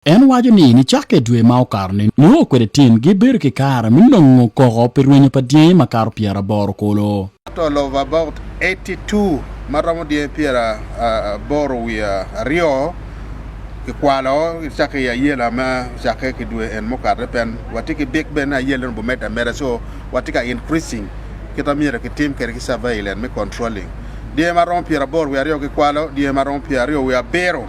En waco ni nicakke i dwe ma okato-ni, nio kwede tim gibedo ki kare me nongo koko pi rwenyo pa dyangi makato pyeraboro kulu. Total of about eighty two, ma romo dyangi pyeraboro wiye aryo, kikwalo gicakke i ayela ma ocakke ki dwe en mukato-ni pien watye ki bik bene ni ayela-ni obimedde ameda, so watye ka increasing kit ma myero kitim kwede ki surveillance me controlling dyangi ma romo pyeraboro wiye aryo kikwalo dyangi ma romo pyeraryo wiye abiro.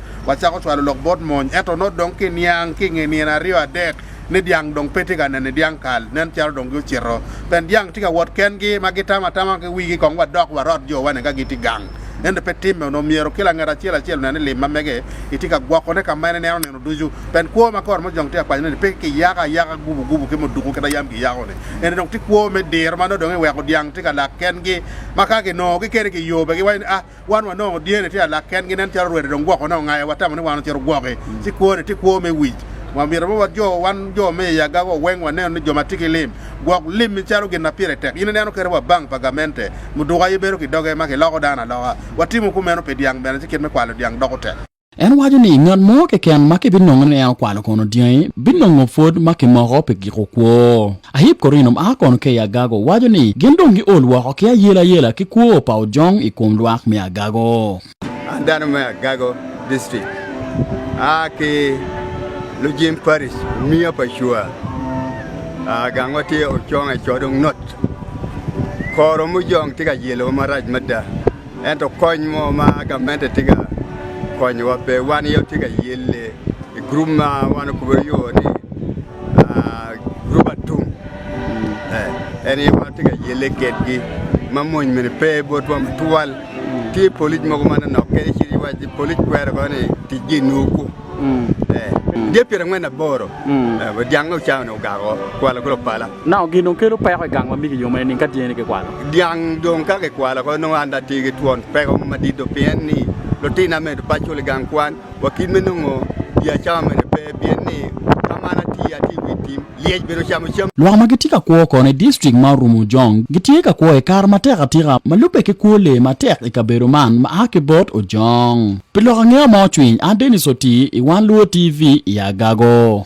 wacako cwalo lok bot mony, ento nongo dong ki niang ki i nge nino aryo adek ni dyang dong pe tye ka nene dyang kal, nen calo dong gucito pien dyang tye ka wot kengi ma gitamo atama ki wigi kong wadok warot jo wa ni ka gitye gang. Ento pe timme, onongo myero kila ngat acel acel onen ni lim ma mege itye ka gwokone ka ma en ineno nino ducu, pien kwo ma kor mojong tye ka kwanyone ni pe ki yako ayaka gubu gubu ki muduku kit a yam ki yako ni, eni dong tye kwo me diro ma nongo dong iweko dyang tye ka lak kengi ma ka ki nongo gi kene ki yobe gi waco ni ah Wan wanongo dyene tye alak kengi, nen calo rwede dong gwoko ne ongayo, watamo ni wan ocito gwoki. Ci kwone tye kwo me wic. Wamito bene wajo, wan jo me i agaga-wa weng waneno ni jo ma tye ki lim, gwok lim-mi calo gin ma pire tek. In ineno kene wa bank pa gamente, muduka aye bedo ki doge ma kiloko dano aloka. Watimo kumeno pi dyang bene, ci kit me kwalo dyang doko tek. En waco ni ngat mo keken ma kibinongo ni en okwalo kono dyangi binongo pwod ma kimoko pi giko kwo. Ahip Korino ma a kono ka i Agago waco ni gin dong giol woko ki ayelayela ki kwo pa ojong i kom lwak me Agago. An dano me Agago District, aa ki Lujim Parish, omiya pa Cua. Gangwa tye Ocong Ecodong North. Kor omujong tye ka yelo wa marac mada. Ento kony mo ma gamente tye ka konyowa pe wan aye watye ka yelle i gurup ma wan okube yo ni gurup atum en aye watye ka yelle kedgi ma mony mene pe botwa tutwal tye polic mogo ma nonok kadi ci iwac ni polic kwero kono ni ticgi inur ku dyepyerangwen aboro dyang-nge ocaone ogako kwala ki lupala. Nongo gin dong kelo peko i gang ma migi yome nining ka dyene kikwalo? Dyang dong ka kikwalo ko nongo an dong atye ki twon peko mo madit do pien ni lutina medo pe acul i gang kwan wa kit me nongo gin acama mene pe pien ni ka ma an atye, atye i wi tim lyec bene ocamo cam. Lwak ma gitye ka kwo kono i distrik ma orumo Ojong gitye ka kwo i kare matek atika ma lubbe ki kwo lee matek i kabedo man ma a ki bot Ojong. Pi lok angeya ma ocwiny, an Dennis Otii i Wan Luo TV i Agago.